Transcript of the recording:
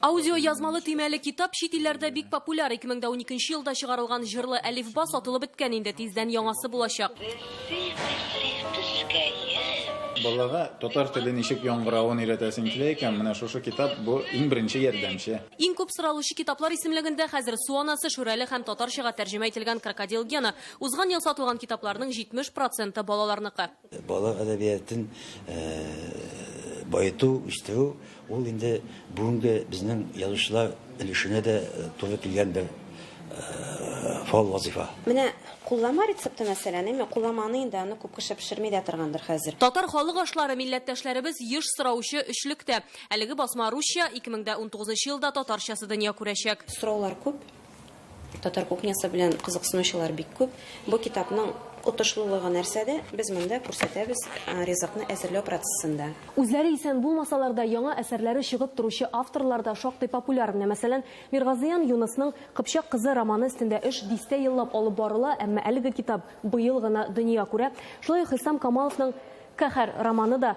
Аудиоязмалы төймәле китап чит илләрдә бик популяр, 2012 нче елда чыгарылган җырлы әлифба сатылып беткән инде, тиздән яңасы булачак. Балага татар теле ничек яңгыравын өйрәтәсең килә икән, менә шушы китап бу иң беренче ярдәмче. Иң күп соралучы китаплар исемлегендә хәзер Су анасы, Шүрәле һәм татарчага тәрҗемә ителгән Крокодил Гена. Узган ел сатылган китапларның 70 проценты балаларныкы. Балалар әдәбиятын баету, үстерү, ул инде бүгенге безнең язучылар өлешенә дә туры килгән бер фал вазыйфа. Менә куллама рецепты мәсәлән, әмма куллама аны инде, аны күп кеше пешерми дә торгандыр хәзер. Татар халык ашлары милләттәшләребез еш сораучы өчлектә. Әлеге басма русча, ике мең дә унтугызынчы елда татарчасы дөнья күрәчәк. Сораулар күп, Татар кухнясы белән кызыксынучылар бик күп. Бу китапның отышлылыгы нәрсәдә? Без монда күрсәтәбез ризыкны әзерләү процессында. Үзләре исән булмасалар да, яңа әсәрләре чыгып торучы авторлар да шактый популяр. Менә, мәсәлән, Миргазыян Юнысның Кыпчак кызы романы өстендә эш дистә еллап алып барыла, әмма әлеге китап быел гына дөнья күрә. Шулай ук Хисам Камаловның Каһәр романы да